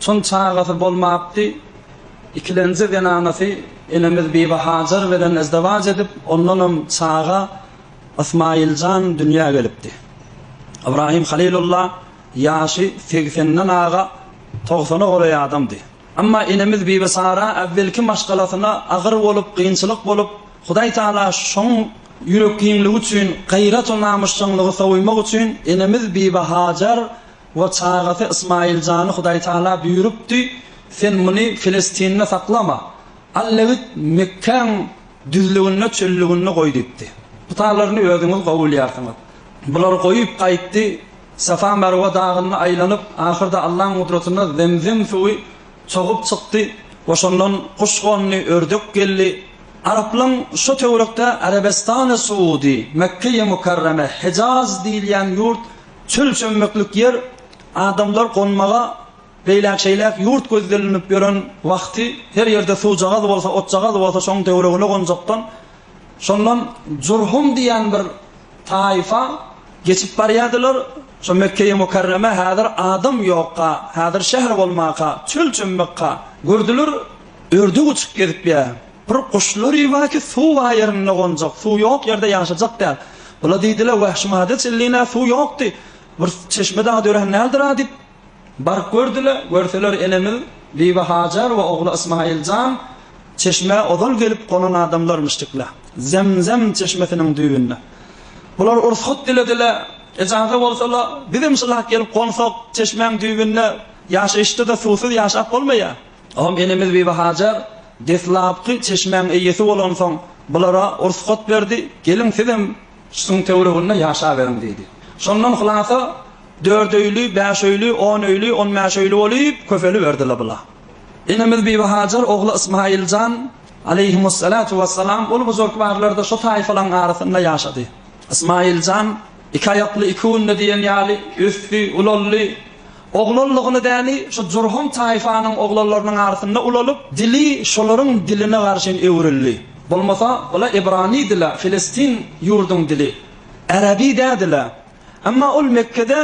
Çün çagasy bolmapdy. Ikilenji zenanasy enemiz Bibi Hajar bilen ezdewaç edip, ondanam çaga Ysmaýyl jan dünýä gelipdi. Ybrahym Halylulla ýaşy segsenden aga togsana golaý adamdy. Emma enemiz Bibi Sara äwwelki maşgalasyna agyr bolup, kynçylyk bolup, Hudaý Taala şoň ýürekgiňligi üçin, gaýrat we namysjaňlygy sowymak üçin enemiz Bibi Hajar We çagasy Ysmaýyljany Hudaýtagala buýrupdy, Sen muny Filistinde saklama. Al-da git, Mekgäň düzlüginde, çöllüginde goý diýipdi. Putalaryny özüňiz gowy bilýärsiňiz. Bular goýup gaýtdy, Safa-Merwe dagynda aýlanyp, ahyrda Allaň gudratyna Zemzem suwy çogup çykdy we şondan guş gondy, ördek geldi. Araplaň şo töwerekde Arebestany-Suudy, Mekgeýi-Mukarreme, Hejaz diýilýän ýurt, Çöl çömmeklik ýer, adamlar gonmaga beýläk-şeýläk ýurt gözdelnip ýören wagty her ýerde suwjagaz bolsa, otjagaz bolsa şoň töweregine gonjakdan, şondan Jurhum diýen bir taýfa geçip barýadylar, şo Mekgeýi Mukarreme häzir adam ýokka, häzir şäher bolmaka, çöl çömmekka gördüler, ördi guçup gezipýär. Bir guşlary bar ki suw bar ýerinde gonjak, suw ýok ýerde ýaşajak däl. Bula diýdiler wahşy madat illina suw ýokdy. Bir çeşme dagy dörän däldir a diýip baryp gördüler. Görseler enemiz Bibi Hajar we ogly Ysmaýyl jan çeşmä ozal gelip gonan adamlarmyşdykla. Zemzem çeşmesiniň düýbünde. Bular ursgat dilediler. Ejaza bolsalar bizem şulak gelip gonsak çeşmäň düýbünde ýaşaýyşda da suwsuz ýaşap bolmaýar. Ogam enemiz Bibihajar deslapky çeşmäň eýesi bolansoň, bulara rugsat berdi, Geliň, sizem şuň töwereginde ýaşaberiň diýdi. Şondan hylasa, dört öýli, bäş öýli, on öýli, on bäş öýli bolup köpeliberdi-le bula. Enemiz Bibihajar ogly Ysmaýyljan aleýhimussalatu wassalam ol buzurkbarlarda şo taýfalaň arasynda ýaşady. Ysmaýyljan iki aýakly iki günde diýen ýaly ösdi, ulaldy. Oglanlygyny däli şu Jurhum taýfanyň oglanlarynyň arasynda ulalyp, dili şolaryň diline garşyn öwrüldi. Bolmasa, bula ebrany dili, Filestin ýurduň dili, äraby dädi-le. Emma ol Mekgede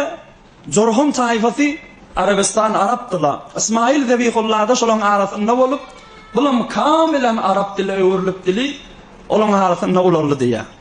Jurhum taýfasy Arabystan arapdy-la. Ysmaýyl Zebihulla-da şolaryň arasynda bolup, bulam kamilen arap diline öwrülip dili olaryň arasynda ulaldy diýýär.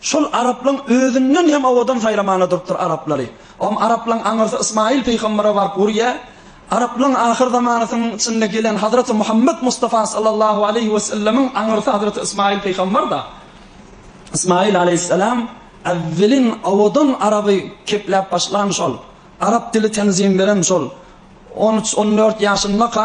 Şol araplaň özünden hem owadan saýlamaga durupdyr araplary. Om araplaň aňyrsy Ysmaýyl pygambere baryp urýa. Araplaň ahyr zamanasynyň içinde gelen Hazreti Muhammet Mustafa sallallahu aleýhi we sellemiň aňyrsy Hazreti Ysmaýyl pygamberda. Ysmaýyl aleýhissalam äwwelin owadan araby kepläp başlan şol. Arap dili tenzim beren şol. On üç, on dört ýaşyndaka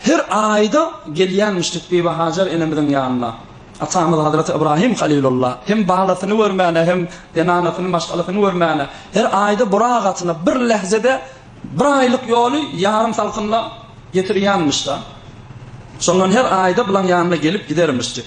Her aýda gelýärmişdik Bibihajar enemiziň ýanyna. Atamyz Hazreti Ybrahym Halylulla hem balasyny görmäne, hem zenanasyny, maşgalasyny görmäne, her aýda burak atyna bir lähzede bir aýlyk ýoly ýarym salkynda getirýänmiş-da. Şondan her aýda bulaň ýanyna gelip gidermişdik.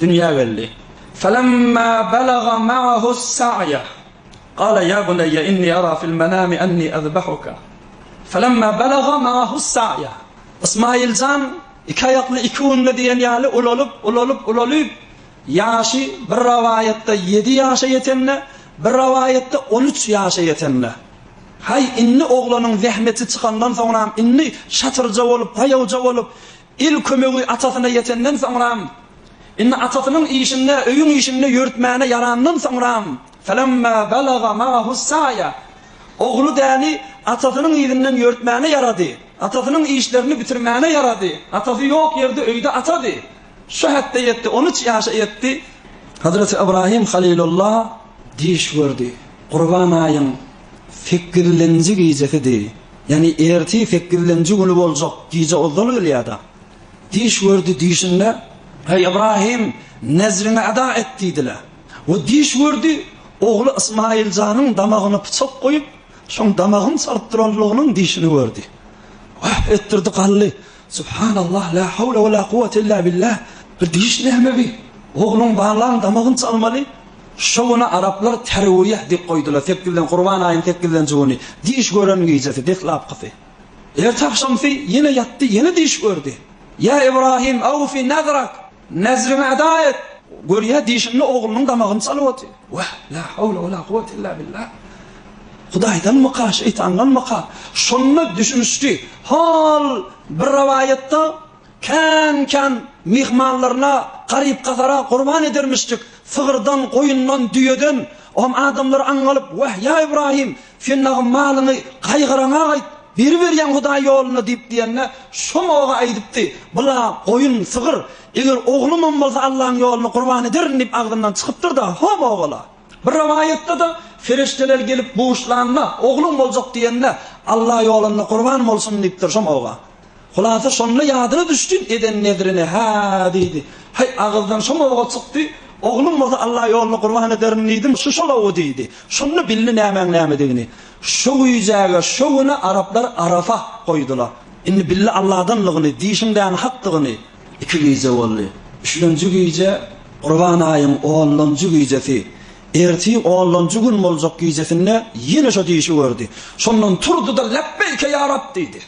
Dünýä geldi. Felemma belaga ma'ahu's-sa'ya, gala ýa buneýýe inni ara fil-menami enni ezbehuka. Felemma belaga ma'ahu's-sa'ya, Ysmaýyl jan iki aýakly iki günde diýen ýaly ulalyp, ulalyp, ulalyp, ýaşy bir rawaýatda ýedi ýaşa ýetende, bir rawaýatda on üç ýaşa ýetende, Haý, indi oglanyň zähmeti çykandan soňram, indi şatyrja bolup, paýawja bolup, Il kömegi atasyna ýetenden soňram, indi atasynyň işinde, öýüň işinde ýörütmäne ýarandan soňram, Felemma belaga ma'ahus sa'ya, Ogly däni atasynyň yzyndan ýörütmäne ýarady, atasynyň işlerini bitirmäne ýarady, atasy ýok ýerde öýde atady, şu hetde ýetdi, on üç ýaşa ýetdi. Hazreti Ybrahim Halilullah düýş gördi. Gurban aýyň sekizilenji gijesidi. Ýani erti sekizlenji güni boljak gije ozal gelýärdi. Düýş gördi, düýşünde, Eý Ybrahym, nezriňi eda et diýdiler. We düýş gördi, ogly Ysmaýyljanyň damagyna pyçak goýup, şoň damagyň salyp duranlygynyň düýşüni gördi. Wah etdirdi galdy, Subhanallah la hawla wala kuwwata illa billah bu diş nämebi ogluň balaň damagyny çalmaly şo güni araplar terwiýeh diýip goýdular sekizden gurban aýyň sekizinji güni diş gören gijesi deslapkysy erte agşamsy ýene ýatdy ýene diş gördi ýa ibrahim awfi nazarak Nezriňi eda et! Görýä, dişinli oglunyň damagyny çalyp otyr. Wah, la hawla we la kuwwete illa billa! Hudaýdanmyka, şeýtandanmyka? Şonda düşünişdi. Hol bir rowaýatda kän-kän myhmanlaryna, garyp-gasara gurban edermişdik. Sygyrdan, goýundan, düýeden. Oňa adamlar aňňalyp, Wah, ýa Ybraýym! Sen lagym malyňy gaýgyrana gaýt, biri berýän Hudaý ýoluna diýip diýende, şom oga aýdypdy, Bula goýun, sygyr, eger oglumam bolsa Allaň ýoluna gurban ederin diýip agzyndan çykypdyr-da, hom ogala. Bir rowaýatda-da, Ferişdeler gelip buşlanda, ogluň boljak diýende, Alla ýolunda gurban bolsun diýipdir şom oga. Hulasa şonda ýadyna düşdi, eden nezrine, Hä, diýdi. Haý, agyzdan şom ow-a çykdy. Oglum bolsa Alla ýoluna gurban ederin diýdim, şu şol ow-u diýdi. Şonda bildi nämäň nämedigini. Şo güýjäge, şo güne araplar Arafah goýdular. Indi bildi Alladanlygyny, diýşiňdäni hakdygyny. Iki gije boldy. Üçlenji gije, Gurban aýyň onlanjy gijesi. Ertir onlanjy gün boljak gijesinde ýene şo diýşi gördi. Şondan turdy-da, Lepbeýke ýa Rab! diýdi.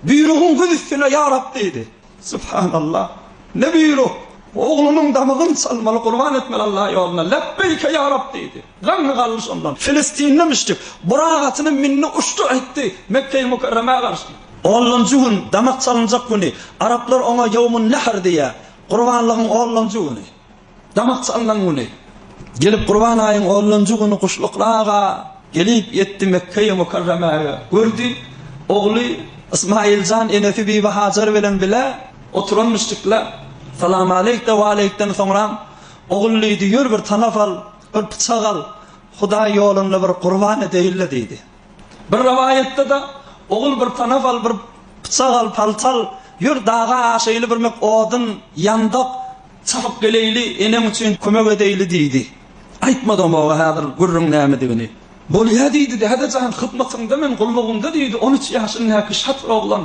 Buýrugyň güz üstüne ýarap diýdi. Subhanallah! Ne buýruk! Oglunyň damygyn çalmaly, gurban etmeli Allah ýoluna. Lebbeýke ýarab diýdi. Laňňy galdy şondan. Filistinli müşrik burak atyna mindi, uçdy, aýtdy, Mekge-i Mükerremä garşy. Onlanjy gün, damak çalynjak güni, araplar oňa Ýowmun-Nähr diýýär, gurbanlygyň onlanjy güni. Damak salnan güni Gelip Gurban aýyň onlanjy güni Guşlukly aga gelip ýetdi Mekgeýi Mukarremäge Gördi ogly Ysmaýyljan enesi Bibi Hajar bilen bile oturan müşrikle Salamaleýk de waleýkden soňram Ogul diýdi ýör bir tanap al bir pyçak al Hudaý ýolunda bir gurban edeýinle diýdi. Bir rowaýatda-da, Ogul bir tanap al, bir pyçak al, palta al, ýör daga aşaýly birmek odun, ýandak, çapyp geleýli, eneň üçin kömek edeýli diýdi. Aýtmadygym oba häzir gürrüň nämedigini. Bolýa diýdi, Däde jan, hyzmatyňda men, gullugyňda diýdi, on üç ýaşyndäki şat bir oglan.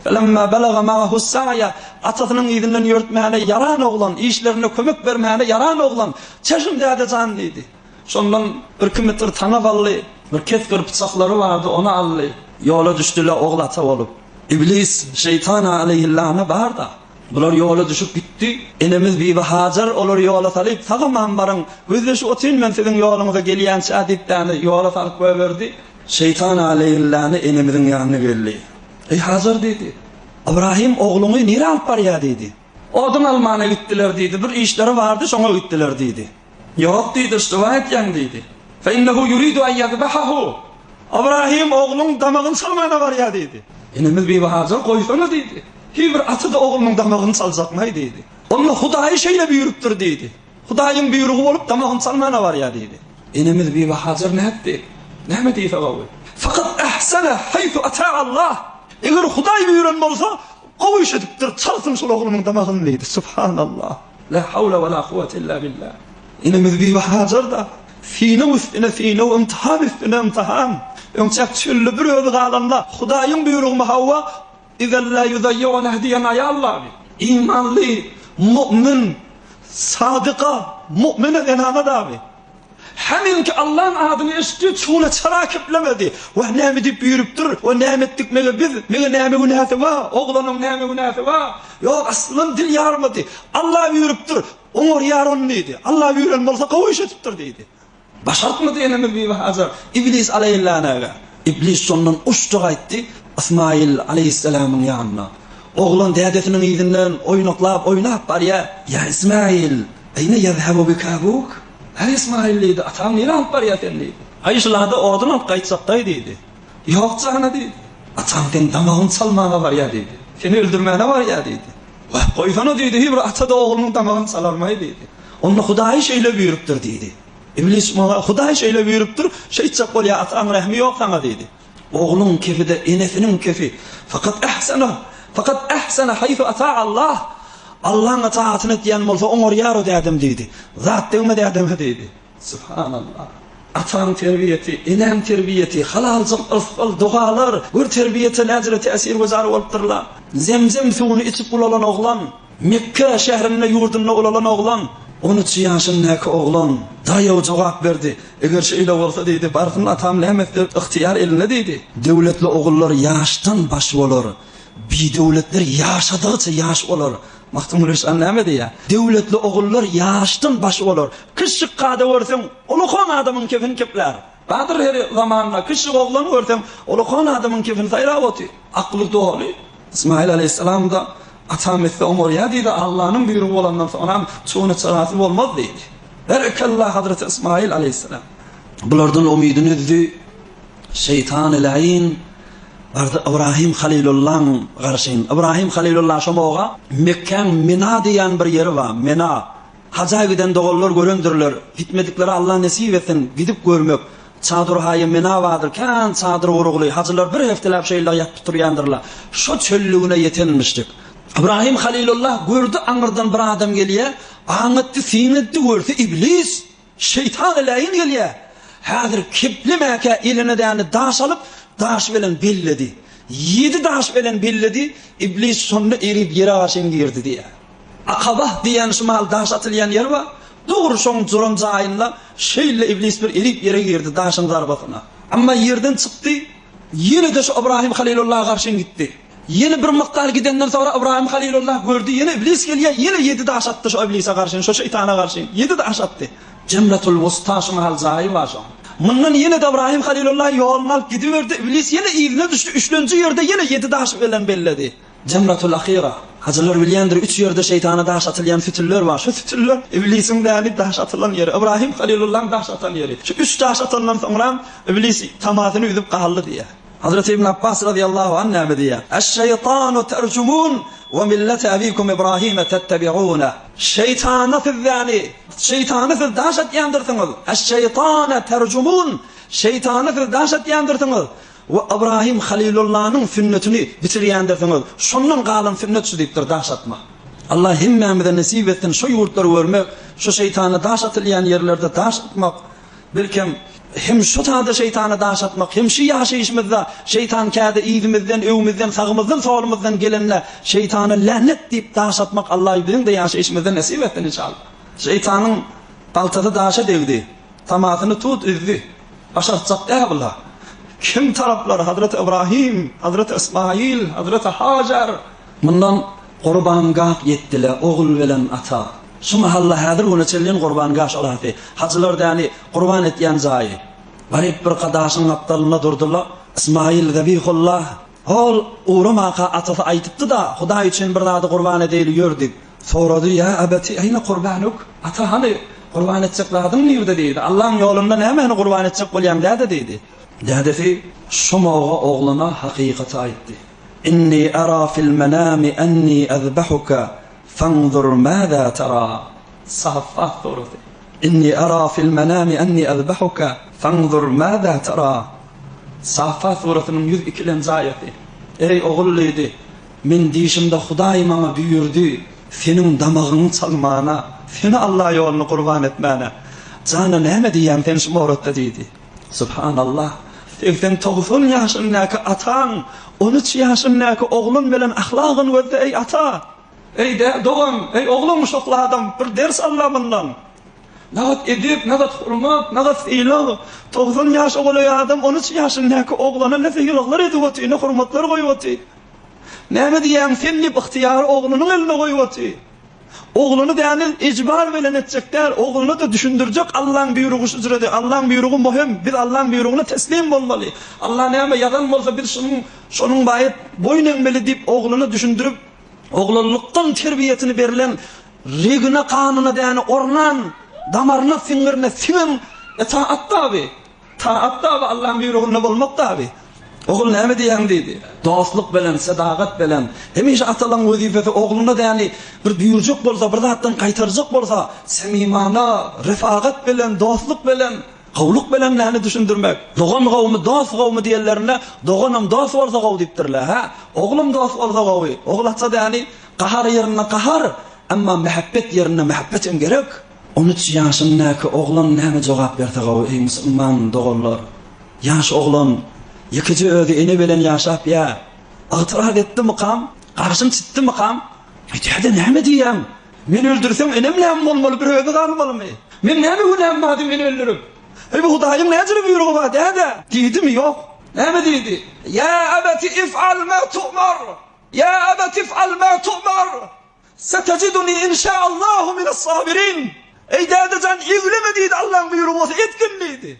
Felemma balaga magahus saýa, atasynyň yzyndan ýörtmäne ýaran oglan, işlerinde kömek bermäne ýaran oglan, Çeşim däde jan diýdi. Şondan birki metr taňa galdy, bir kesgir pyçaklary bardy, ony aldy. Ýola düşdüle ogul ata bolup. Iblis, şeýtan aleýhillana bar-da. Bular ýola düşüp gitdi. Enemiz Bibi Hajar olary ýola salyp, Sag-aman baryň, gözleşip otyryn men siziň ýoluňyza gelýänçä diýip däne, ýola salyp goýberdi. Şeýtan aleýhillana enemiziň ýanyna geldi. Eý Hajar diýdi. Ybrahym ogluňy nirä alyp barýar diýdi. Odun almana gitdiler diýdi. Bir işleri bardy, şoňa gitdiler diýdi. Ýok diýdi, Yştyba edýäň diýdi. Fe innehu ýuridu en ýezbehahu. Ybrahym ogluň damagyny çalmana barýar diýdi. Enemiz Bibi Hajar goýsana diýdi. Hiý bir ata-da oglunyň damagyny çaljakmaý diýdi. Onda Hudaýy şeýle buýrupdyr diýdi. Hudaýyň buýrugy bolup damagyny çalmana barýar diýdi. Enemiz Bibi Hajar nätdi? Näme diýse gowy. Fakat ehsene haysu ata Allah. Eger Hudaý buýran bolsa Gowy iş edipdir, çalsyn şol oglumyň damagyny diýdi. Subhanallah. La hawla wala kuwwete illa billa. Enemiz Bibi Hajar-da sinew üstüne sinew, ymtahan üstüne ymtahan. Öňçäk çölde bir özi galanda, Hudaýyň buýrugymy hawa, Izen la ýuzaýýunah diýen aýal bardy. Imanly, mu'min, sadyka, mu'mine zenana dagy. Hämennki Allaň adyny eşitdi, çuguna çala keplemedi. Wah, näme diýip üýrüpdir we näme etdik meňe biz? Meňe näme günäsi bar? Oglanyň näme günäsi bar? Ýok, aslyndan dil ýarmady. Alla üýrüpdir, oňarýar ony diýdi. Alla üýren bolsa, gowy iş edipdir diýdi. Başartmady enemiz Bibi Hajar, iblis alaýyllanaga. Iblis şondan uçdy gaýtdy Ysmaýyl aleýhissalamyň ýanyna. Oglan dädesiniň yzyndan oýnaklap oýnap barýar. Ýa Ysmaýyl, aýna ýezhebu bika abuk? Äý Ysmaýyl diýdi, ataň nirä alyp barýar seni diýdi. Aý şulada odun alyp gaýtjakdaý diýdi. Ýok jana diýdi. Ataň seň damagyňy çalmaga barýar diýdi. Seni öldürmäne barýar diýdi. Wah, goýsana diýdi, hiý bir ata-da oglunyň damagyny çalarmaý diýdi. Onda Hudaýy şeýle buýrupdyr diýdi. Iblis muňa, Hudaý şeýle buýrupdyr, şeýtjek bol, ýa ataň rehmi ýok saňa diýdi. Ogluň kefi-de enesiniň kefi. Fakat ahsana, fakat ahsana haýsu ata Allah. Allaň itaatyn etýän bolsa oňarýar o dädem diýdi. Zat degme dädeme diýdi. Subhanallah. Ataň terbiýesi, eneň terbiýesi, halaljyk ysgal, dogalar, gör terbiýete näcele täsirgüzar bolupdyr-la. Zemzem suwuny içip ulalan oglan. Mekge şährinde ýurdunda ulalan oglan, on üç ýaşyndaky oglan, daýaw jogap berdi. Eger şeýle bolsa, diýdi, barsyn atam näme isler, ygtyýar elinde, diýdi. Döwletli ogullar ýaşdan baş bolar, bidöwletler ýaşadygyça ýaş bolar. Magtymguly şa näme diýýär? Döwletli ogullar ýaşdan baş bolar. Kişjik kada görseň, ulukan adamyň kefini keplär. Badyr her zamanda kişjik oglany görseň, ulukan adamyň kefini saýlap otyr. Akly doly. Ysmaýyl alaýhyssalam-da, Atam etse oňarýar diýdi, Allanyň buýrugy bolandan soňram, şuny çyraty bolmaz diýdi. Berekella Hazreti Ysmaýyl alaýhyssalam. Bulardan umydyny üzdi. Şeýtany laýyn bardy Ybrahym halylullaň garşyn. Ybrahym halylulla şomoga Mekkäň Mina diýýän bir ýeri bar. Mina. Haja giden doganlar görendirler, gitmediklere Alla nesip etsin, gidip görmek. Çadyrhaýy Menabadyr kän çadyr gurugly, hajylar bir hefteläp şeýle ýatyp turýandyrlar. Şo çöllügine ýetenmişdik. Ybrahym Halylulla gördi aňyrdan bir adam gelýär, aň etdi, syn etdi, görse iblis, şeýtan eleýin gelýär. Häzir keplemäkä eline däne daş alyp, daş bilen belledi. Ýedi daş bilen belledi, iblis şonda erip ýere garşy indirdi diýýär. Akaba diýýän şumal daş atylýan ýer bar, dogry şoň duran jaýynda şeýle iblis bir irip ýere girdi daşyň zarbasyna. Emma ýerden çykdy, ýene-de şu Ybrahym Halylullaha garşyn gitdi. Ýene bir mykdar gidenden soňra Ybrahym Halylullah gördi ýene iblis gelýär ýene ýedi daş atdy şu iblise garşyn şu şeýtana garşyn ýedi daş atdy. Jennetul Wusta şumal jaýy bar şoň. Mundan ýene-de Ybrahym Halylullah ýoluny alyp gidiberdi, iblis ýene yzyna düşdi üçlenji ýerde ýene ýedi daş bilen belledi. Jemratul Ahira, Hajylar bilýändir, üç ýerde şeýtana daş atylýan sütünler bar. Şu sütünler Iblisiň däli daş atylan ýeri, Ybraýym Halilullaň daş atan ýeri. Şu üç daş atandan soňram Iblis tamasyny üzüp galdy diýýär. Hazreti Ibn Abbas razyýallahu anh näme diýýär? Eş-şeýtanu terjumun we millete ebikum Ibraýyme tettebiune. Şeýtana siz däli, şeýtana siz daş atýandyrsyňyz. Eş-şeýtane terjumun, şeýtana siz daş atýandyrsyňyz. We Ybrahym Halylullanyň sünnetini biçirýändirsiňiz, şondan galan sünnet şu diýipdir, daş atma. Allah hemmämize nesip etsin şo ýurtlary görmek, şo şeýtana daş atylýan ýerlerde daş atmak, belkem, hem şo sada şeýtana daş atmak, hem şu ýaşaýyşymyzda şeýtan käde yzymyzdan, öňümizden, sagymyzdan, solumyzdan gelende şeýtana länet diýip daş atmak Allaý biziň-de ýaşaýyşymyzda nesip etsin inşallah. Şeýtanyň galtasy daşa degdi, tamasyny tut üzdi. Başartjak Äwla kim taraplar Hazreti Ybrahim, Hazreti Ysmaýyl, Hazreti Hajar. Mundan Gurbangaht ýetdile ogul bilen ata. Şu mahalla häzir güne çenli Gurbangaş arasy, hajylar däli gurban etýän jaýy. Garyp bir ka daşyň gapdalynda durdyla Ysmaýyl Zabihullah. Ol ugramanka atasy aýdypdy-da, Hudaý üçin bir zady gurban edeýli ýör diýip, sorady. Ýa abati, aýna kurbanuk, ata, hany, gurban etjek zadyň nirde? diýdi. Allaň ýolunda nämäni gurban etjek bolýaň, däde? diýdi. Dädesi şu mowga oglana hakykaty aýtdy. Inni ara fil-menami anni azbahuka, fanzur maza tara. Saf at dogrusy. Inni ara fil menami anni azbahuka fanzur maza tara. Safat surasynyň ýüz ikilenji aýaty. Eý ogul diýdi, Men düýşümde Hudaý maňa buýurdy, seniň damagyňy çalmana, seni Alla ýoluna gurban etmäne. Jana näme diýýäň sen şu mowratda diýdi. Subhanallah, segsen togsan ýaşyndäki ataň, on üç ýaşyndäki ogluň bilen ahlagyn gözle eý ata. Öýde dogan, Eý, oglum, şokladam bir ders al-la mundan. Nagat edep, nagat hormat, nagat sylag. Togsan ýaşa golaý adam on üç ýaşyndäki oglana ne sylaglar edip otyr, ne hormatlar goýup otyr. Näme diýýäň sen diýip, ygtyýary oglunyň eline goýup otyr. Ogluny däne ejbar bilen etjek däl, ogluna-da düşündirjek Allaň býurugy şujredi, Allaň býurugy muhim, biz Allaň býurugyna teslim bolmaly. Alla näme ýazan bolsa biz şonuň şonuň baýat boýun egmeli diýip, ogluna düşündirip, Oglanlykdan terbiýesini berlen, regine, ganyna däne ornan, damaryna siňňirine siňen etaat daby, taat daby Allaň büýrüginde bolmak daby. Ogul näme diýýäň diýdi. Dostluk belen, sedagat belen. Hemişe atalaň wezipesi ogluna däni bir büýürjek bolsa, bir zatdan gaýtarjak bolsa, samimana, refagat belen, dostluk belen. Gowluk bilen näni düşündirmek? Dogan gowumy, dost gowumy diýenlerinde, Doganam dost bolsa gowy diýipdirler. Hä, oglum dost bolsa gowy. Oglatja däni, gahar ýerinde gahar, emma mähebbet ýerinde mähebbet hem gerek. On üç ýaşyndäki oglan näme jogap berse gowy, eý, musulman doganlar? Ýaş oglan, ýekeje özi ene bilen ýaşap, ýa ygtyraz etdimikam, garşym çytdymykam, öýdýär-de näme diýýäň? Meni öldürseň enem näme bolmaly bir özi galmalymy? Meň näme günäm bady meni öldürip? Eý bu Hudaýyň näjili buýrugy bar däde? Diýdimi? Ýok. Näme diýdi? Ýa abati if'al ma tu'mar, ýa abati if'al ma tu'mar, satajiduni in şa'allahu minas sabirin. Eý dädejan egleme diýdi Allaň buýrugy bolsa etgin diýdi.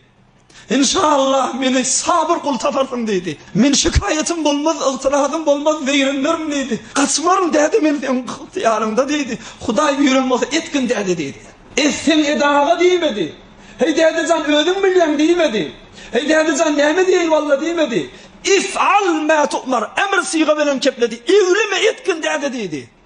Inşallah meni Sabyr gul taparsyň diýdi. Men şikaýatym bolmaz, ygtyrazym bolmaz, zeýrenmerin diýdi. Gaçmaryn däde men seň ygtyýaryňda diýdi. Hudaý buýran bolsa etgin däde diýdi. Etseň et aga diýmedi. Heý däde jan özüň bilýäň diýmedi. Heý däde jan näme diýeýin walla diýmedi. If'al mä tu'mar, emr syga bilen kepledi. Egleme etgin däde diýdi.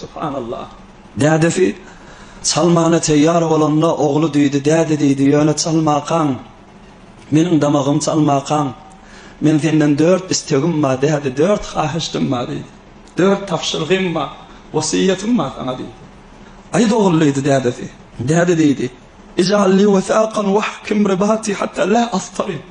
Subhanallah. Dädesi çalmana teýýar bolanda ogly diýdi, Däde diýdi, ýöne çalmakaň, meniň damagym çalmakaň. Men senden dört istegim bar, däde, dört hahyşdym bar diýdi. Dört tabşyrygym bar, wesýetim bar saňa diýdi. Aýt ogul diýdi dädesi. Däde diýdi, Ij'al li wesaqan wahkim ribati hatta la astarib.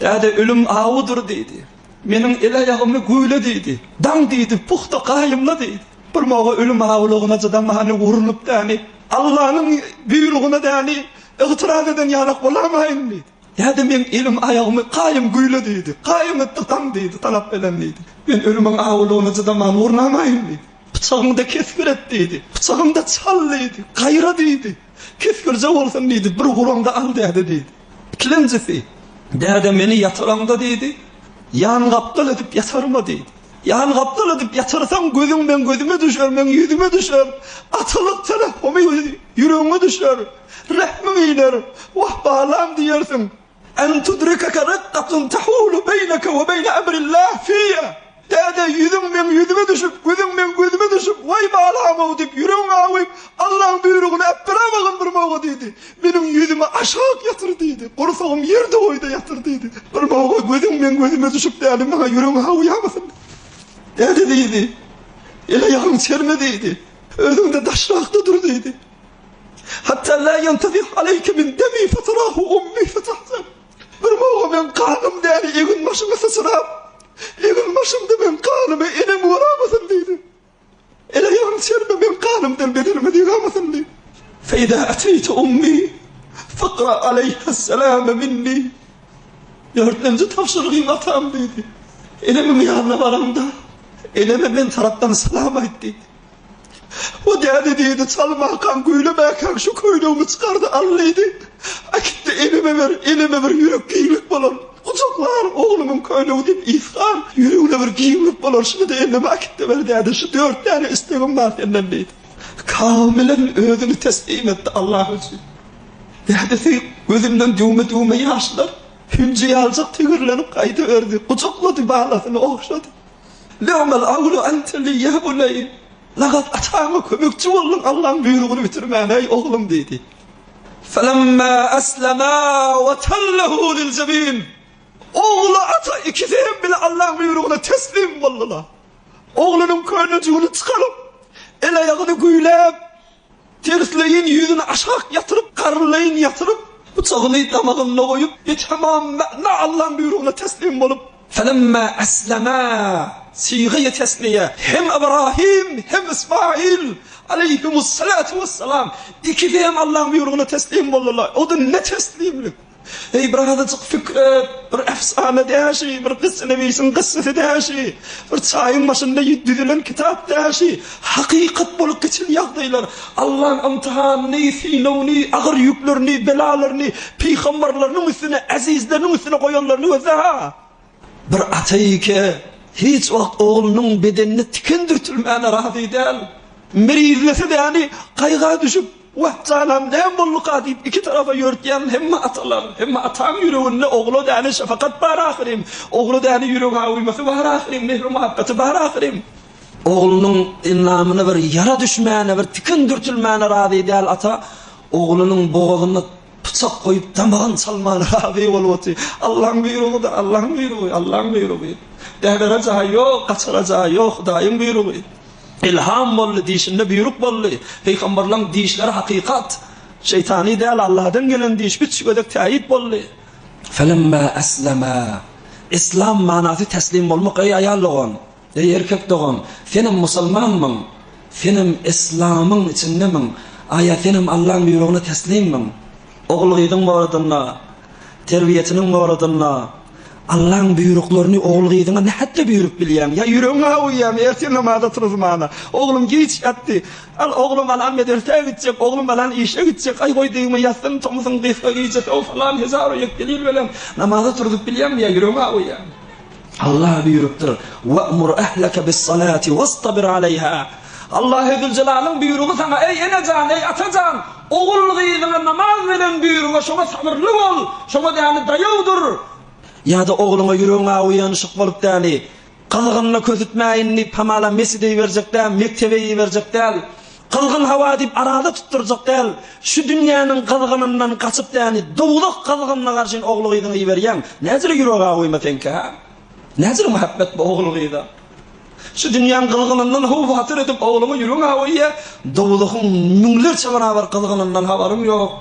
Däde, ölüm awudyr diýdi. Meniň el-aýagymy güýle diýdi. Daň diýdi, puhta gaýymla diýdi. Bir moga ölüm awulygyna çydamany, urnup däni, Allanyň buýrugyna däni, ygtyraz eden ýalak bolamaýyn diýdi. Däde meň elim-aýagymy gaýym güýle diýdi. Gaýym etdi, daň diýdi, talap belen diýdi. Men ölümiň awulygyna çydamany, urnamaýyn diýdi. Pyçagyňda kesgir et diýdi. Pyçagymda çal diýdi. Gaýra diýdi. Kesgirje bolsun diýdi, bir gulaňda al däde diýdi. Ikilenjisi, Däde, meni ýatyraňda diýdi, ýan gapdal edip ýatarma diýdi. Ýan gapdal edip ýatyrsaň, gözüň meň gözüme düşer, meň ýüzüme düşer. Atalyk terehhumyň ýüregiňe düşer. Rehmiň iner. Wah, balam diýersiň. An tudrikeke rekkatun tahulu beýneke we beýne emril-Lah fiýa, Däde, ýüzüň meň ýüzüme düşüp, gözüň meň gözüme düşüp, Waý, balam-ow! diýip, ýüregiňi awyp, Allaň buýrugyny äpbir awagan birmaoga diýdi. Meniň ýüzümi aşak ýatyr diýdi. Gursagym ýer doýdy ýatyr diýdi. Birmaoga gözüň meň gözüme düşüp däli maňa ýüregiňi awýamasyn diýdi. Däde diýdi, El-aýagyň çerme diýdi. Özüň-de daşrakda dur diýdi. Hatta la yantazik aleyke min demi fatarahu ummi fatahzan. Bir moga men ganym däri egin başyma saçyrap, egin başymda men ganymy enem oramasyn diýdi. Ele ýan serme men ganymdan bedenime digamasyn diýdi. Feýda ateyte ummi fakra aleyha selame minni. Dörtlenji tabşyrygyň atam diýdi. Enemiň ýanyna baraňda, eneme men tarapdan salam aýt diýdi. O däde diýdi, Çalmakan, köýlemäkäň şu köýnegimi çykarda al diýdi. Äkitdi, eneme ber, eneme bir ýürek giňlik bolar. Gujaklar, oglumyň köýnegi diýip ysgar, ýüregine bir giňlik bolar, şuny-da eneme äkitde ber däde, şu dört däne islegim bar senden diýdi. Kamilen özüni teslim etdi Allah üçin. Dädesi gözünden düwme-düwme ýaşlar hünjeýaljak tigirlenip gaýdyberdi, gujaklady, balasyny ogşady. Lewmal awlu ante li ýa buneýn, Lagat ataňa kömekçi bolduň, Allaň buýrugyny bitirmän, eý, oglum! diýdi. Felemma eslema we tellehu lil jebin, Ogly ata ikisi hem bile Allaň buýrugyna teslim boldular. Oglunyň köýnejigini çykaryp, el-aýagyny güýläp, Tersleýin ýüzüni aşak ýatyryp, garynleýin ýatyryp, pyçagyny damagynda goýup, Betemam mäna Allaň buýrugyna teslim bolup, Felemma eslemâ, sigaýy tesniýe, hem Ybrahym, hem Ysmaýyl, aleýhimus-salatu wes-salam, ikisi hem Allaň buýrugyna teslim boldular. Ody ne teslimlik! Eý, bir azajyk pikir et, bir efsana däşi, bir gyssynewisiň gyssysy däşi, bir çaýyň başynda düzülen kitap däşi, hakykat bolup geçen ýagdaýlar, Allaň ymtyhanyny, synagyny, agyr ýüklerini, belalaryny pygambarlarynyň üstüne, ezizleriniň üstüne goýanlaryny gözle-hä! Bir ata-eke hiç wagt oglunyň bedenine tiken dürtülmäne razy däl. Mirizlisi däni gaýga düşüp, Wah, janam, näme bolduka? diýip, iki tarapa ýörtýän hemme atalar. Hemme ataň ýüreginde ogla däne şepakat bar ahyryn. Ogla däne ýüregawymasy bar ahyryn, mehri-muhabbaty bar ahyryn. Oglunyň endamyna bir ýara düşmäne, bir tiken dürtülmäne razy däl ata, oglunyň bogazyna Pyçak goýup damagyny çalmana razy bolup otyr. Allaň buýrugydy, Allaň buýrugy, Allaň buýrugy. Bäbere jaý ýok, gaçara jaý ýok, Hudaýyň buýrugy. Ylham boldy, dişinde buýruk boldy. Pygamberlaň dişleri hakykat. Şeýtany däl, Alladan gelen diş üç gezek täýit boldy. Felemma eslema, Islam manasy teslim bolmak, eý aýal dogan! Eý erkek dogan, senem musulmanmyň? Senem islamyň içindemiň? Aýa senem Allaň buýrugyna teslimmiň? Ogul-gyzyň boladynda, terbiýesiniň boladynda, Allaň buýruklaryny ogul-gyzyňa nähätde buýrup bilýäň? Ýa ýüregiň awuýamy? Ertir namaza turuzmana, oglum giç ýatdy. Al, oglum alan medresä gitjek, oglum alan işe gitjek. Aý, goý degme, ýatsyn, tomusyn, gysga gije, sow, falan, hezaru ýek delil bilen namaza turuzyp bilýäňmi ýa ýüregiň awuýamy? Allah buýrupdyr, Wa'mur ahlaka bis-salati wastabir alayha. Allahy Züljelaliň buýrugy saňa, eý ene jan, eý ata jan, ogul-gyzyňa namaz beren buýrugy, şoňa sabyrly bol, şoňa däli daýaw dur. Ýa-da ogluňa ýüregiň awuýany şok bolup däli, gyzgynyna kösütmäýin diýip hamala mesjide iberjek däl, mekdebe iberjek däl. Gyzgyn hawa diýip araza tutdurjak däl, şu dünýäniň gyzgynyndan gaçyp däni dowzah gyzgynyna garşyn ogly gyzyňy iberýäň, näjili ýürek awuýma seňki ha? Näjili mähbet bu ogly gyza? Şu dünýäň gyzgynyndan haw-hatyr edip ogluňa ýüregiň awuýýa, dowzahyň müňlerçe barabar gyzgynyndan habaryň ýok.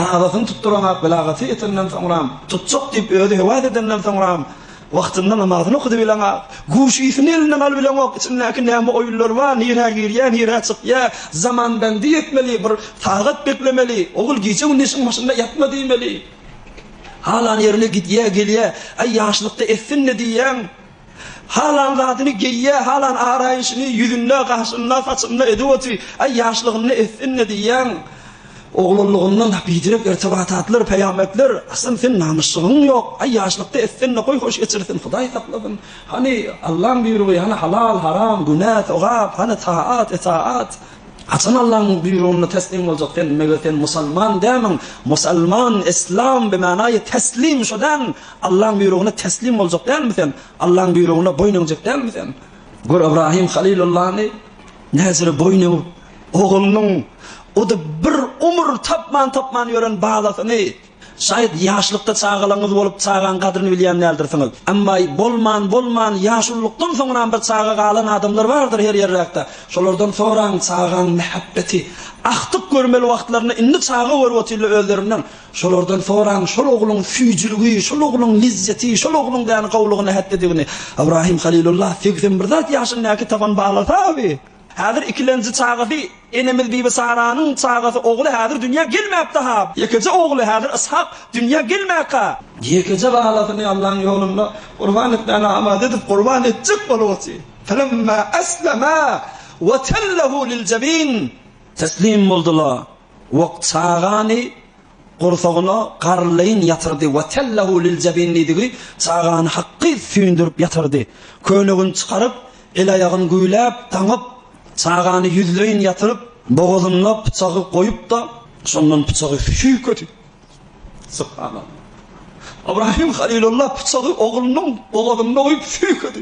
Arazasyny tutduranok, belagaty ýetenden soňram, tutjak diýip özi höwes edenden soňram, Wagtynda namazyny okudy bileňok. Guşysyny elinden aly bileňok. Içindäki näme oýunlar bar, nirä girýär, nirä çykýar. Zamanbendlik etmeli, bir sagat beklemeli. Ogul gije-gündiz işiň başynda ýatma diýmeli. Halan ýerine gidýär, gelýär. Aý, ýaşlykda etsin-le diýýäň. Halan zadyny geýýär, halan araýşyny ýüzünde, gaşynda, saçynda edip otyr. Aý, ýaşlygynda etsin-le diýýäň. Oglanlygyndan bejirek ertebata atlar peýametler Hasan sen namysjygyň ýok aý ýaşlykda etsende goý hoş geçirsin hudaý saklasyn hany Allaň buýrugy hany halal haram günä sogap hany taat itaat haçan Allaň buýrugyna teslim boljak sen meger sen musalman dämiň musalman islam bimanaýy teslim şo däl Allaň buýrugyna teslim boljak dälmi sen Allaň buýrugyna boýun egjek dälmi sen gör Ybrahym halylullany näzire boýun egip Oglunyň o da bir umur tapman-tapman ýören balasyny, şaýat ýaşlykda çagalaryňyz bolup çagaň gadryny bilýän däldirsiňiz. Emma bolman, bolman ýaşululykdan soňram bir çaga galan adamlar bardyr her ýerräkde. Şolardan soraň çagaň mähebbeti agtyk görmeli wagtlarynda indi çaga görüp otyrlar özlerinden. Şolardan soraň şol ogluň süýjüligi, şol ogluň lizzeti, şol ogluň däni gowulygy nähätdedigini. Ybrahym Halylulla segsen bir zat ýaşyndäki tapan balasa bi. Häzir ikilenji çagasy, enemiz Bibi Saranyň çagasy ogly häzir dünýä gelmäpdi-ha. Ýekeje ogly häzir Yshak dünýä gelmäka. Ýekeje balasyny Allaň ýolunda gurban etmäni amada edip gurban etjek bolguçy. Felemma eslema we tellehu lil-jebin. Teslim boldular we çagany Gursagyna garrlaýyn ýatyrdy. Wa tellahu lil jabin diýdigi çagany hakgy süýndürip ýatyrdy. Köýnegini çykaryp, el-aýagyny güýläp, daňyp, çagany ýüzleýin ýatyryp, bogazyna pyçagy goýup-da, şondan pyçagy süýkedi. Subhanallah! Ybrahim Halilulla pyçagy oglunyň bogazynda goýup süýkedi.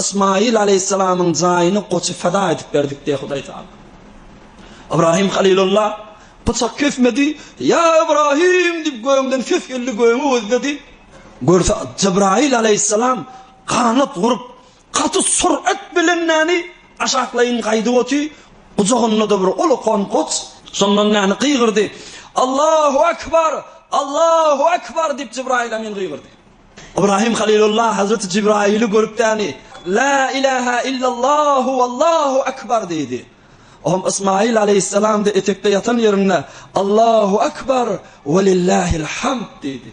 Ysmaýyl alaýhyssalamyň jaýyny goça feda edip berdik diýýär Hudaý Tagala. Ybrahym Halylulla pyçak kesmedi, Ýa Ybrahym! diýip gögden ses geldi, gögi gözledi. Görse Jybraýyl alaýhyssalam ganat gurup, gaty surat bilen näni, aşaklaýyn gaýdyp oty, gujagynda-da bir ulakan goç. Şondan näni gygyrdy, Allahu Ekber! Allahu Ekber! diýip Jybraýyl Emin gygyrdy. Ybrahim Halilulla Hazreti Jibraili görüp däni, La ilaha illallahu wallahu akbar diýdi. Oňam Ysmail aleýhissalamda etekde ýatan ýerinde Allahu akbar welillahil hamd diýdi.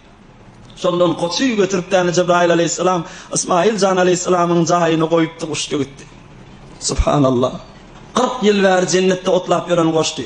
Şondan goçy götürip däni Jibrail aleýhissalam Ysmail jan aleýhissalamyň jaýyna goýupdy, guşdy gitdi. Subhanallah. Kyrk ýyl bäri jennetde otlap ýören goçdy.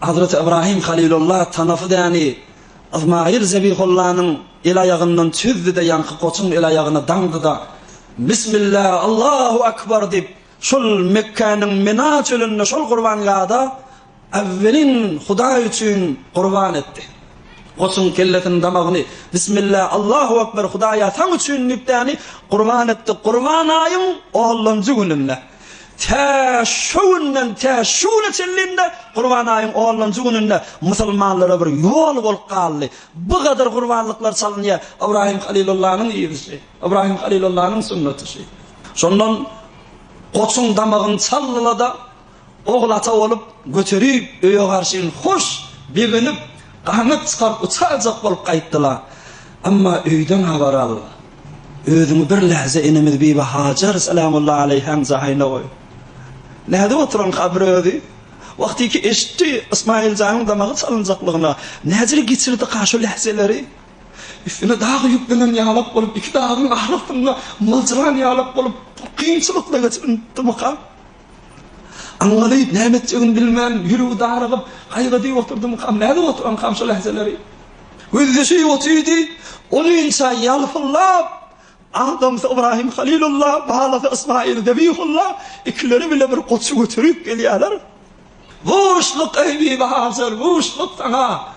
Hazreti Ybrahym Halylulla tanasy däni Yzmaýyl Zebihullanyň el-aýagyndan çüzdi-de, ýaňky goçuň el-aýagyna daňdy-da, Bismillah, Allahu akbar diýip, şol Mekgäniň Mina çölünde şol gurbangada äwwelin Hudaý üçin gurban etdi. Goçuň kellesini, damagyny, Bismillah, Allahu akbar, Hudaýa saň üçin diýip däni gurban etdi, Gurban aýyň onlanjy gününde. Tä şo günden tä şu güne çenli-de Gurban aýyň onunjy gününde musulmanlara bir ýol bolup galdy. Bu gadar gurbanlyklar çalynýar. Ybrahym Halylullanyň ýygysy, Ybrahym Halylullanyň sünnaty şeý. Şondan goçuň damagyny çaldyla-da, ogul ata bolup göterip, öýe garşyn hoş begenip, ganat çykaryp uçarjak bolup gaýtdyla. Emma öýden habar al. Özüňi bir lähze enemiz Bibi Hajar salamullah aleýhäň jaýyna goý. Nädip oturan kabry özi? Wagty ki eşitdi Ysmaýyl janyň damagy çalynjaklygyna, näjele geçirdika şo lähzeleri? Üstüne dag ýüklenen ýalak bolup, iki dagyň arasynda myljyran ýalak bolup, kynçylykly geçirinipdirmika? Aňňalyp, näme etjegini bilmän, ýüregi darygyp, gaýgydy oturdymkam, nädip oturankam şo lähezeleri? Gözýaşy otyrdy, onynça ýalpyldap, adamsy Ybraýym Halylulla, balasy Ysmaýyl Zebihulla ikileri bile bir goçy göterip gelýärler. Buşluk ey Bibi Hajar, buşluk saňa!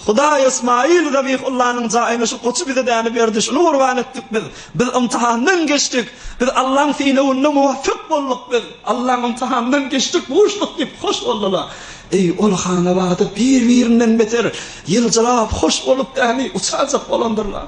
Hudaý Ysmaýyl Zabihullanyň jaýyna şu goçy bize däne berdi, şuny gurban etdik biz. Biz ymtahandan geçdik. Biz Allaň synagynda muwapyk bolduk biz. Allaň ymtahandan geçdik buşluk diýip hoş boldular. Eý, ol hanabada bir-birinden beter ýyljyrap, hoş bolup däneý uçarjak bolandyrlar.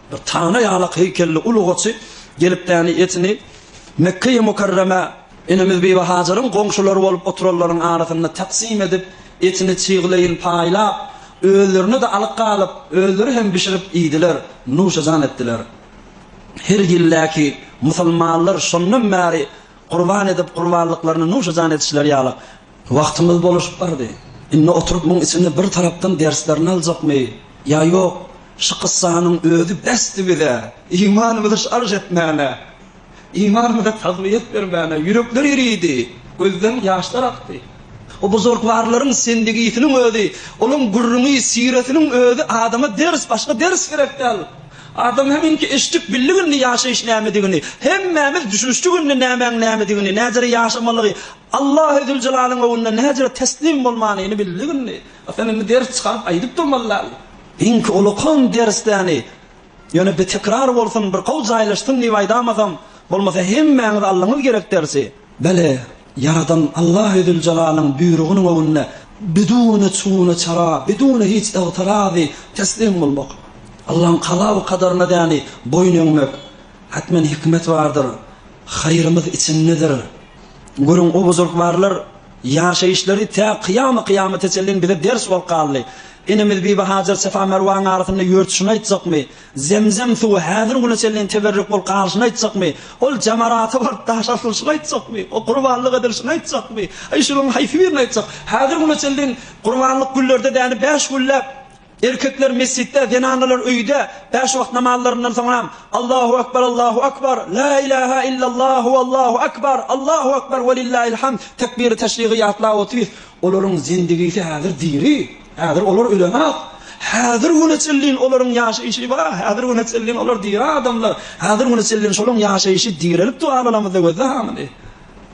Bir tana ýanak heýkelli uly goçy gelip däni etini Mekkeýi Mukarremä enemiz Bibi Hajaryň goňşulary bolup oturanlaryň arasynda taksim edip, etini çygleýin paýlap, özlerine-de alyk galyp, özleri hem bişirip iýdiler, nuşajan etdiler. Her ýyl-däki musulmanlar şondan bäri gurban edip gurbanlyklaryny nuşajan etişleri ýaly, Wagtymyz boluşyp bardy. Indi oturyp muň içini bir tarapdan derslerini aljakmy ýa ýok, şu kyssanyň özi besdi bize, imanymyzy şarž etmäne, imanymyza tagwiýet bermäne, ýürekler eridi, gözden ýaşlar akdy. O buzurgwarlaryň sendigisiniň özi, olaň gürrüňi, siretiniň özi adama ders, başga ders gerek däl. Adam heminki eşitdik, bildik indi ýaşaýyş nämedigini, hemmämiz düşünişdik indi nämäň nämedigini, nädere ýaşamalygy, Allahy Züljelalyn öňünde näjele teslim bolmanyny bildik indi. A sen indi ders çykaryp aýdyp durmalydaly. Iňki ulakan dersdäni. Ýöne bitekrar bolsun, bir gowy jaýlaşsyn diýip aýdamasam, bolmasa hemmäňiz aldyňyz gerek dersi. Bele, Ýaradan Allahy Züljelalyn buýrugynyň öňünde bidune çune çara, bidune hiç ygtyrazy teslim bolmak. Allaň kala we kadaryna däni boýun egmek. Hökmän hikmet bardyr, haýrymyz içindedir. Görüň, o buzrukbarlar ýaşaýyşlary tä kyýamy-kyýamata çenli bize ders bolup galdy. Enemiz Bibi Hajar Sefa-Merwaň arasynda ýörtüşini aýtjakmy? Zemzem suwy häzir güne çenli teberrük bolup galyşyny aýtjakmy? Ol jamarata baryp daş asylyşyny aýtjakmy? O gurbanlyk edilişini aýtjakmy? Aý, şularyň haýsy birini aýtjak? Häzir güne çenli gurbanlyk güllerde däni bäş gülläp, Erkekler mesjitde, zenanlar öýde, bäş wagt namazlaryndan soňram, Allahu akbar, Allahu akbar, La ilaha illallah, Huwallahu akbar, Allahu akbar, Welillahil hamd, tekbiri teşrigy ýatlap otyrys. Olaryň zendigisi häzir diri, häzir olar ölenok. Häzir güne çenlin olaryň ýaşaýşy bar, häzir güne çenlin olar diri adamlar, häzir güne çenlin şolaň ýaşaýşy direlip dua alamyzda gözle hamyny.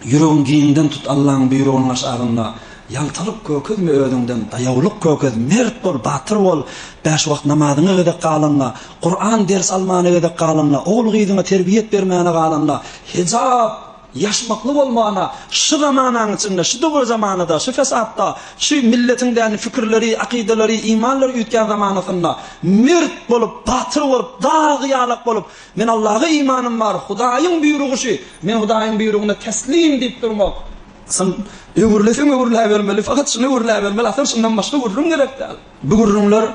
Ýüregiň giňden tut Allaň buýrugynyň aşagynda Ýaltalyk kökezme özüňden daýawlyk kökez Mert bol batyr bol Bäş wagt namazyňa gezek galanda Kuran ders almana gezek galanda Ogul gyzyňa terbiýet bermäne galanda Hejap ýaşmakly bolmana Şu zamanaň içinde şu döwür zamanada şu fesatda şu milletiň däni fikirleri akydalary imanlary üýtgän zamanasynda Mert bolup batyr bolup dagy ýalak bolup Men Allaha imanym bar, Hudaýyň buýrugy şu, men Hudaýyň buýrugyna teslim diýip durmak. Sen öwürleseň öwürläbermeli, fakat şuny öwürläbermeli, asyl şundan başga gürrüň gerek däl. Bu gürrüňler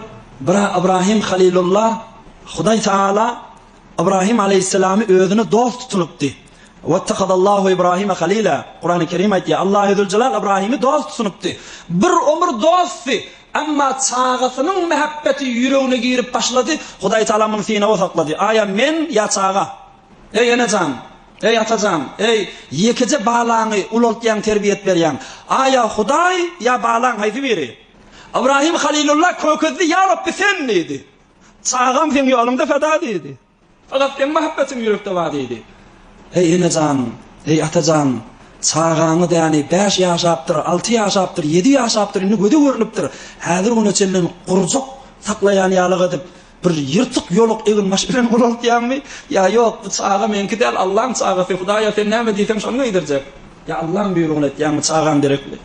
bira Ybrahym Halilulla, Hudaý Tagala Ybrahym alaýhyssalamy özüne dost tutunypdy. Wettehadallahu Ibrahime Halila, Kurany Kerim aýtýar, Allahüzüljelal Ybrahymy dost tutunypdy. Bir ömür dostdy. Emma çagasynyň mähebbeti ýüregine girip başlady, Hudaý Tagala muny synaga saklady. Aýa men, ýa çaga. Eý ene jan, eý ata jan, eý, ýekeje balaňy ulaltýaň, terbiýet berýäň. Aýa Hudaý, ýa balaň haýsy biri? Ybrahym Halilulla kökezdi, Ýa Rabbi, Sen diýdi. Çagam Seň ýoluňda feda diýdi. Ylat seň mahabbetiň ýürekde bar diýdi. Heý ene jan, heý ata jan, çagaňyz ýany bäş ýaşapdyr, alty ýaşapdyr, ýedi ýaşapdyr, indi göze görnüpdir, häzir güne çenli gurjak saklaýan ýalak edip, bir ýyrtyk ýoluk eginbaş bilen ulaltýaňmy? Ýa ýok, bu çaga meňki däl, Allaň çagasy, Hudaýa sen näme diýseň şony geýdirjek. Ýa Allaň buýrugyny etýäňmi, çagaň derekli.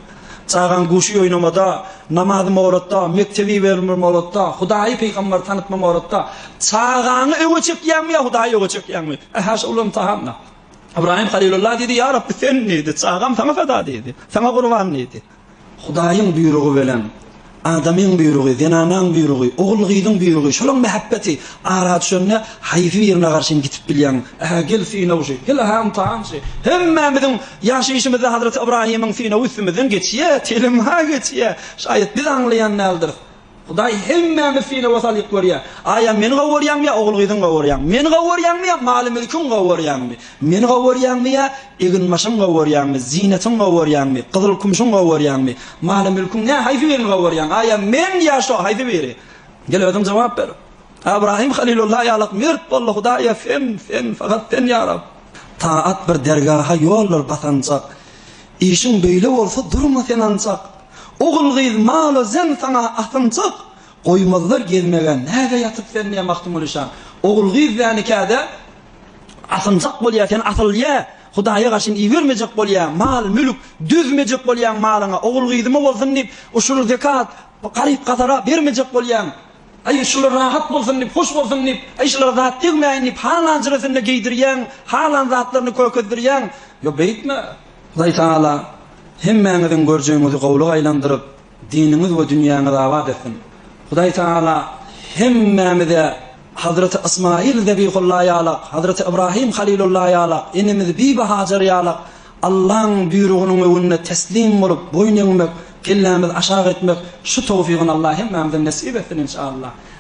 Çagaň guşy oýnamada, namazy moratda, mektebi iberilme moratda, Hudaýy, pygamberi tanytma moratda. Çagaňy öňe çekýäňmi ýa Hudaýy öňe çekýäňmi? Ähäşe ol ymtahanda. Ybraýym Halylulla diýdi, Ýa Rabbi, Sen diýdi, çagam Saňa feda diýdi. Saňa gurban diýdi. Hudaýyň buýrugy bilen adamyň buýrugy, zenanaň buýrugy, ogul-gyzyň buýrugy, şolaň mähebbeti ara düşende, haýsy birine garşy hem gidip bilýäň? Ä-hä, gel synawçy, gel, ä-hä, ymtahançy! Hemmämiziň ýaşaýşymyzda Hazreti Ybraýymyň synawy üstümizden geçýär, telim-hä geçýär. Şaýat biz aňlaýan däldiris. Hudaý hemmämiz synaga salyp görýär. Aýa meni gowurýaňmy ýa ogul-gyzyňy gowurýaňmy? Meni gowurýaňmy ýa maly-mülkiňi gowurýaňmy? Meni gowurýaňmy ýa eginbaşyňy gowurýaňmy? Zynatyňy gowurýaňmy? Gyzyl-kümşüňi gowurýaňmy? Maly-mülkiň nä, haýsy birini gowurýaň? Aýa men ýa şo, haýsy biri? Gel özüň jogap ber. Abraýym halylulla ýalak mört boldy. Hudaýa sen, sen, fakat sen ýa Rab. Taat bir dergaha ýoldur basanjak. Işiň beýle bolsa durma sen ancak, Ogul gyz malo zen saňa asynjak, Goýmazlar gezmegä näge ýatyp sen ne Magtymgulyşan Ogul gyz dä nikäde asynjak bolýa sen asyl ýe Hudaýa garşyn ibermejek bolýa mal mülk düzmejek bolýaň malyňa ogul gyzyma bolsun diýip ushur zekat garyp gazara bermejek bolýaň Aý, şular rahat bolsun diýip, hoş bolsun diýip, aý, şulara zat degmäýin diýip, halan jüresinde geýdirýäň, halan zatlaryny kökezdirýäň. Ýok, beýtme. Hudaý tagala hemmäňiziň görjegiňizi gowulyga aýlandyryp, diniňiz we dünýäňizi abat etsin. Hudaý tagala hemmämize Hazreti Ysmaýyl Zebihulla ýalak, Hazreti Ybrahym Halilulla ýalak, enemiz Bibi Hajary ýalak Allaň buýrugynyň öňünde teslim bolup boýun egmek, kellämizi aşak etmek şu towfygyny Allah hemmämize nesip etsin inşallah.